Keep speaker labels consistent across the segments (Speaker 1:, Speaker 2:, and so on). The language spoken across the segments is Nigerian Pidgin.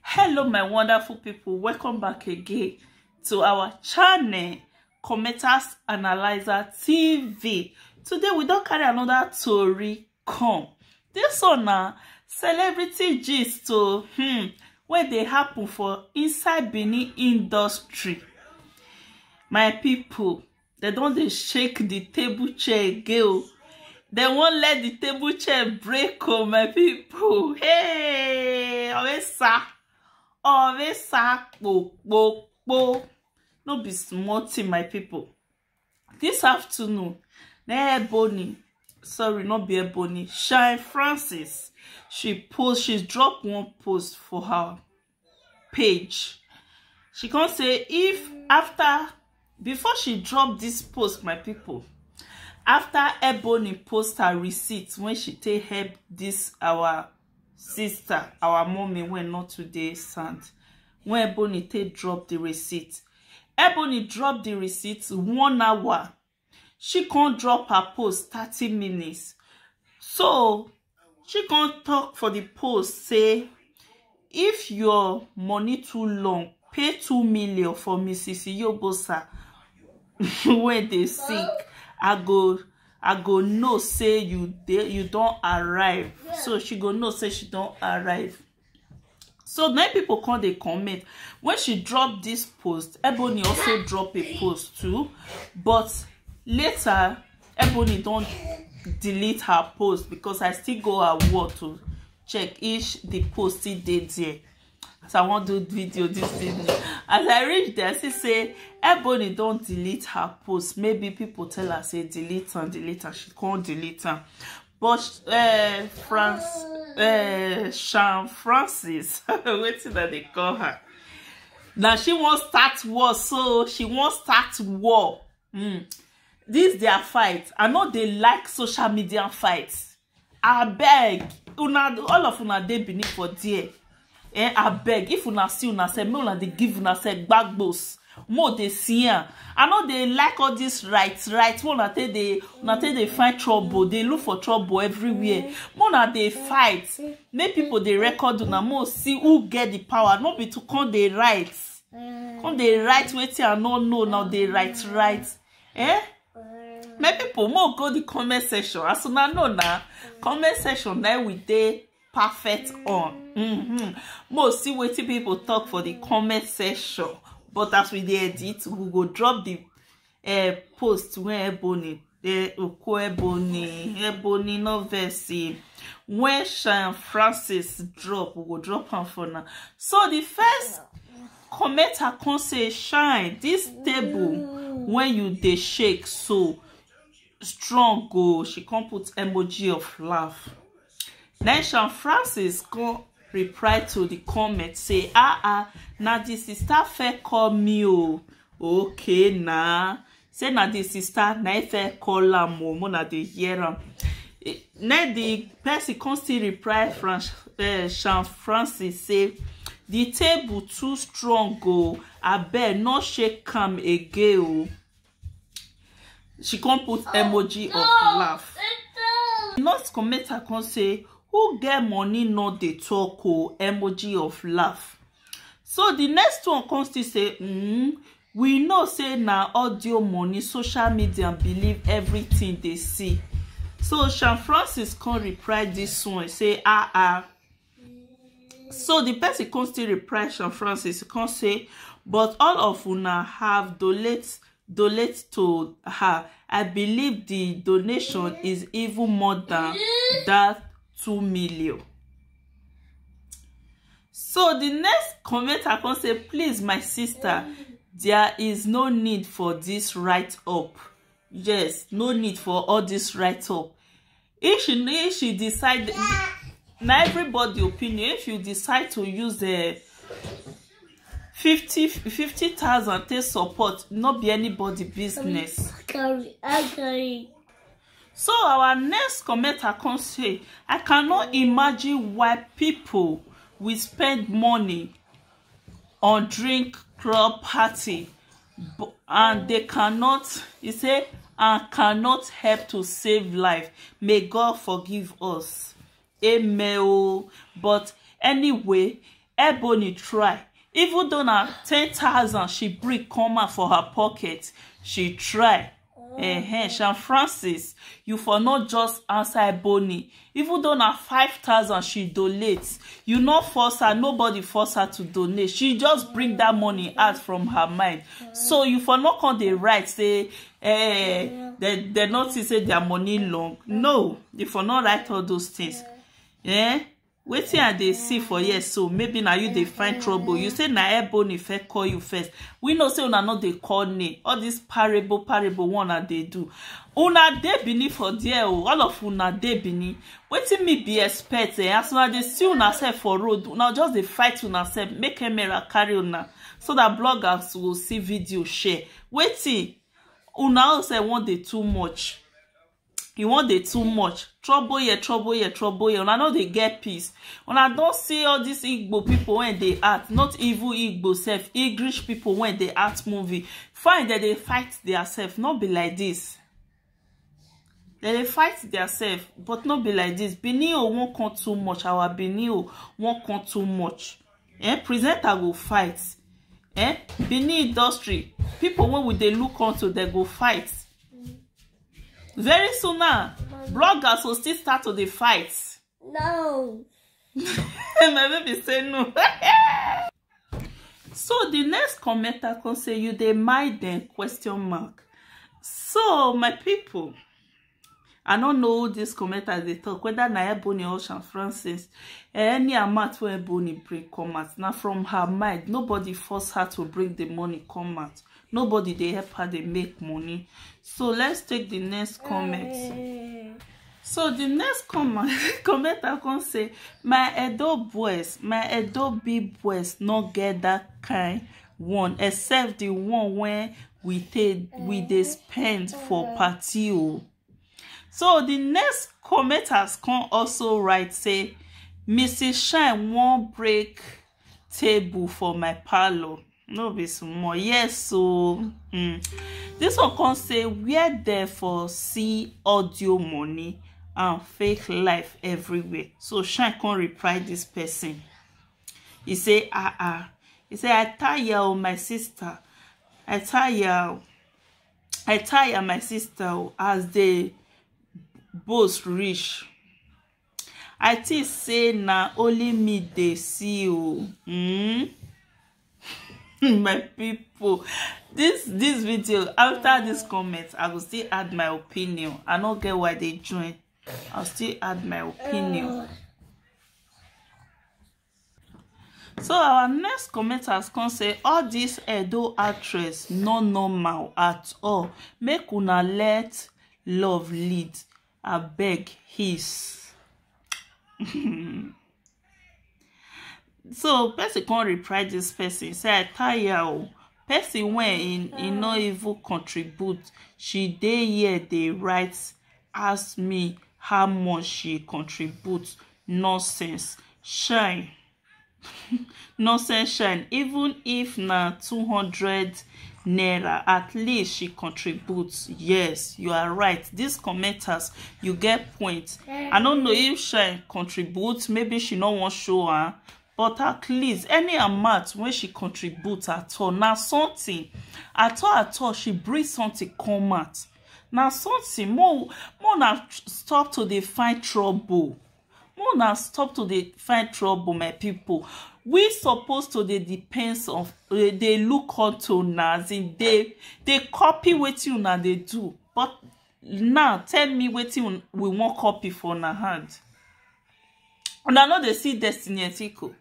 Speaker 1: hello my wonderful people welcome back again to our channel commenters analyzer tv today we don't carry another tori come this one na celebrity gist to hmm, wey dey happen for inside benin industry my people dem don dey shake the table chair again o dem wan let the table chair break o my people hey oresa oresa kpokpokpo no be small thing my people this afternoon na ebony sorry not be ebony shine francis she post she drop one post for her page she come say if after before she drop this post my people after ebony post her receipt when she take help this our sister our mommy wey not today sand when ebony take drop the receipt ebony drop the receipt one hour she can't drop her post 30 minutes so she can't talk for the post say if your money too long pay two million for mrs iyobosa when they sick i go i go know say you dey you don't arrive so she go know say she don't arrive so many people come dey comment when she drop this post ebony also drop a post too but later ebony don delete her post because i still go her wall to check if the post still dey there as i wan do video this evening as i reach there i see say ebony don delete her post maybe people tell her say delete am delete am she come delete am but uh, france uh, sean francis wetin dem dey call her na she wan start war so she wan start war mm. this their fight i no dey like social media fight abeg una all of una dey benin for there eh abeg if una see una sef make una dey give una sef gbagbos mo dey see am i no dey like all this right right wey una take dey una take dey find trouble dey look for trouble everywhere mo una dey fight make people dey record una mo see who get the power no be to come dey write come dey write wetin i no know na dey write write eh make people mo go the comment section as una know na comment section na we dey perfect on mm-hmm. mo see wetin people talk for the comment section but as we dey edit we go drop the uh, post when ebony eh, oko ebony ebony no vex when Sean Francis drop we go drop am for now so the first comment i come say shine this table when you dey shake so strong go she come put emoji of laugh then sean francis come reply to the comment say ah ah na the sister fair call me o oh. okay na say na the sister na e fair call am o oh. mona dey hear am then the person come still reply Franch, uh, eh, sean francis say the table too strong o oh. abeg no shake am again o. Oh. she come put oh, emoji of laugh the nurse come make her come say who get money no dey talk o emoji of laugh so the next one come still say mm, we know say na audio money social media believe everything dey see so sean francis come reply this one say ah ah so the person come still reply Sean Francis come say but all of una have donate donate to her I believe the donation is even more than that two million so the next comment I come say please my sister there is no need for this write up yes no need for all this write up if she if she decide na everybody opinion if you decide to use uh, fifty fifty thousand take support no be anybody business. Carry, I carry. So our next commenter come say, I cannot imagine why people will spend money or drink club party and they cannot he say and cannot help to save life may god forgive us amen o but anyway ebony try even though na ten thousand she bring come out for her pocket she try eh sean francis you for no just answer ebony even though na five thousand she donate you no force her nobody force her to donate she just bring that money out from her mind so you for no come dey write say eh they they no think say their money long no you for no write all those things eh wetin i dey see for here so maybe na you dey find trouble you say na ebony first call you first we know say una no dey call name all this parable parable one una dey do una dey benin for there o all of una dey benin wetin me be expect eh as una dey see una sef for road una just dey fight una sef make camera carry una so that bloggers go see video share wetin una own sef wan dey too much you wan dey too much trouble here trouble here trouble here una no dey get peace una don see all these igbo people wey dey act not even igbo sef english people wey dey act movie fine dem dey fight their self no be like this dem dey fight their self but no be like this benin o wan come too much our benin o wan come too much eh presenter go fight eh benin industry people wey we dey look unto dem go fight Very soon now, bloggers will still start to the fight. No. My baby say no. so the next commenter can say you dey mind them question mark. So my people, I don't know who this commenter they talk whether na Ebony or Sean Francis. Any amount where Ebony bring come out, now from her mind, nobody force her to bring the money come out. nobody dey help her dey make money so let's take the next comment hey. so the next comment commenter come say my edo boys my edo big boys no get that kind one except the one wey we take we dey eh. spend for eh. party o oh. so the next commenters come also write say mrs shine wan break table for my parlour no be small yes so um, this one come say where there for see audio money and fake life everywhere so shine come reply this person he say ah ah he say i tire o my sister i tire o i tire my sister o as they boast reach I think say na only me dey see o. Mm? my people this this video after this comment i go still add my opinion i no get why they join i'll still add my opinion So our next comment has come say all this Edo actress no normal at all. Make una let love lead. I beg his. so person come reply this person say I tire o. Person wey he, he no even contribute. She dey here dey write ask me how much she contribute nonsense shine nonsense shine even if na two hundred naira at least she contributes yes you are right these commenters you get point i don't know if she contributes maybe she no wan show her but at least any amount when she contributes at all now something at all at all she brings something come out na something more more na stop to dey find trouble more na stop to dey find trouble my people we suppose to dey depend on dey dey look unto na as in dey dey copy wetin una dey do but now tell me wetin un- we wan copy for una hand una no dey see destiny etiko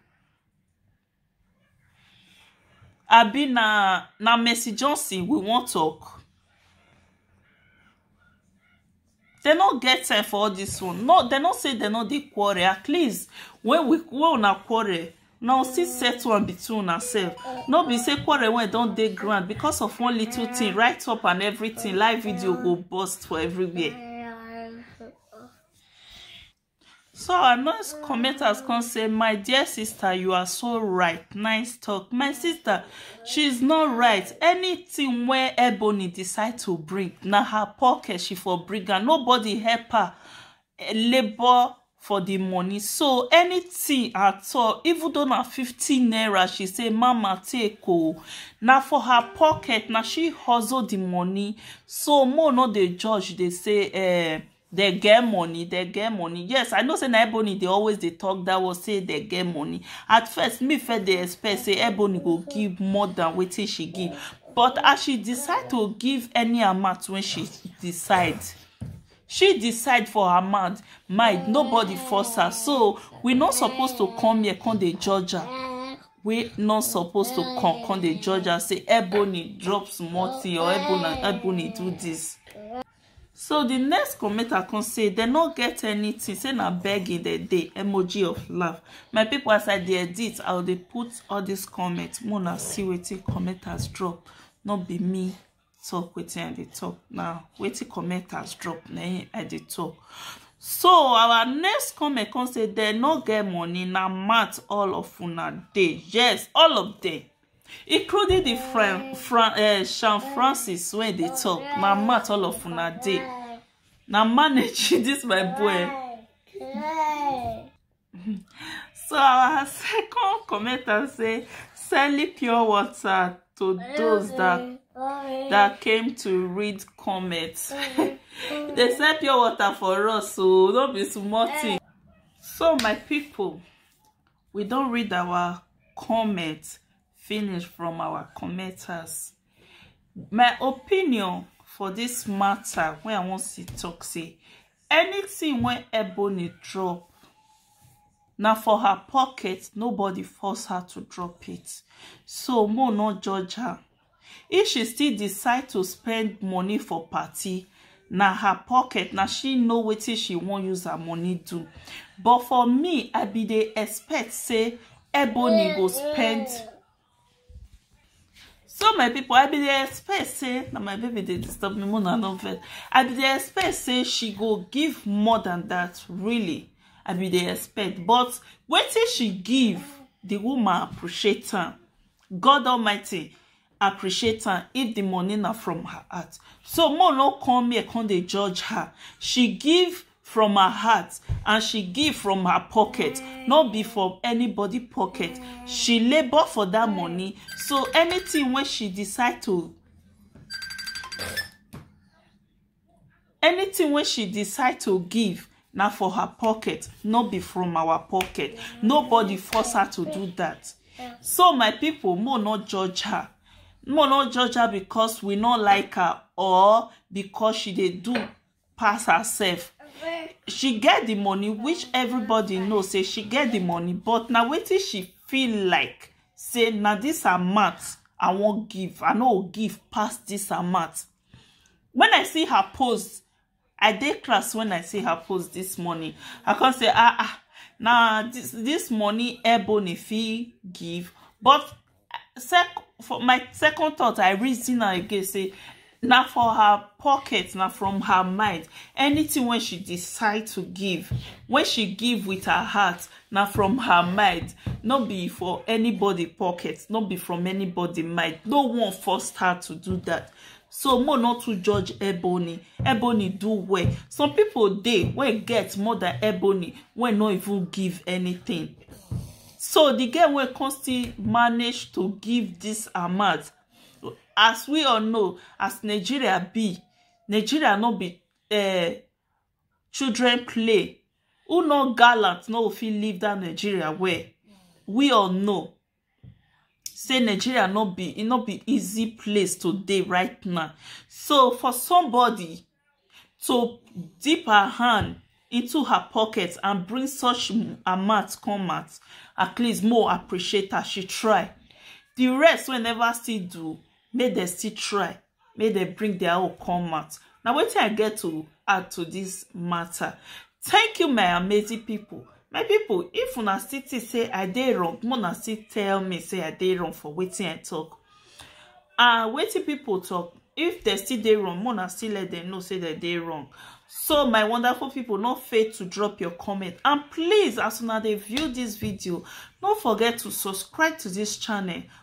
Speaker 1: Abi na na Mercy Johnson we wan talk? Dem no get time for all this one. No, dem no say dem no dey quarrel. At least when we when una quarrel, una go still settle am between una sef. No be say quarrel wey don dey ground because of one little thing, write up and everything, live video go burst for everywhere. So I must comment as come say, my dear sister, you are so right. Nice talk. My sister, she's not right. Anything where Ebony decide to bring, na her pocket she for bring her. Nobody help her eh, labor for the money. So anything at all, even though na 15 naira, she say, Mama, take oh. Now for her pocket, now she hustle the money. So more not the judge, they say, eh, They get money, they get money. Yes, I know say na Ebony they always they talk that was say they get money. At first, me first they expect say Ebony go give more than wetin she give. But as she decide to give any amount when she decide, she decide for her mind, mind nobody force her. So we not supposed to come here come dey judge her we not supposed to come come dey judge her say ebony drop small thing or ebony ebony do this So di next commenter come say dem no get anything say na begging dem dey emoji of laugh my people as I dey edit I go dey put all this comments make una see wetin commenters drop no be me talk wetin I dey talk na wetin commenters drop na im I dey talk so our next comment come say dem no get money na mouth all of una dey yes all of them including the friend Fran, uh, eh, Sean Francis wey dey talk na mat all of una dey na manage this my boy so our second commenter say selling pure water to those that that came to read comments they sell pure water for us so don't be small thing so my people we don't read our comment finish from our commenters my opinion for this matter when i want to talk say anything when ebony drop Now for her pocket nobody force her to drop it so mo no judge her If she still decide to spend money for party, na her pocket, na she know wetin she wan use her money do. But for me, I be dey expect say Ebony go spend so my people i bin dey expect say na my baby dey disturb me mona no vex i bin dey expect say she go give more than that really i bin dey expect but wetin she give the woman appreciate am god almighty appreciate am if the money na from her heart so mo no come here come dey judge her she give from her heart and she give from her pocket no be from anybody pocket she labour for that money so anything wey she decide to anything wey she decide to give na for her pocket no be from our pocket nobody force her to do that so my people mo no judge her mo no judge her because we no like her or because she dey do pass herself she get the money which everybody know say she get the money but na wetin she feel like say na this amount i wan give i no go give pass this amount when I see her post, I dey class when I see her post this morning. I come say, ah, ah, now this, this money Ebony fee give. But sec for my second thought, I reason am again, say, na for her pocket, na from her mind. Anything when she decide to give, when she give with her heart, na from her mind no be for anybody pocket no be from anybody mind no one forced her to do that so mo not to judge ebony ebony do well some people dey wey get more than ebony wey no even give anything so the girl wey come still manage to give this amount as we all know as nigeria be nigeria no be uh, children play who no gallant no go fit leave that nigeria well we all know say nigeria no be e no be easy place to dey right now so for somebody to dip her hand into her pocket and bring such m- amount come out at least more appreciate her she try the rest wey never still do make dem still try make dem bring their own come out na wetin i get to add to this matter thank you my amazing people my people if una still think say i dey wrong make una still tell me say i dey wrong for wetin i talk and wetin people talk if they still dey wrong make una still let them know say they dey wrong so my wonderful people no fail to drop your comment and please as una dey view this video no forget to subscribe to this channel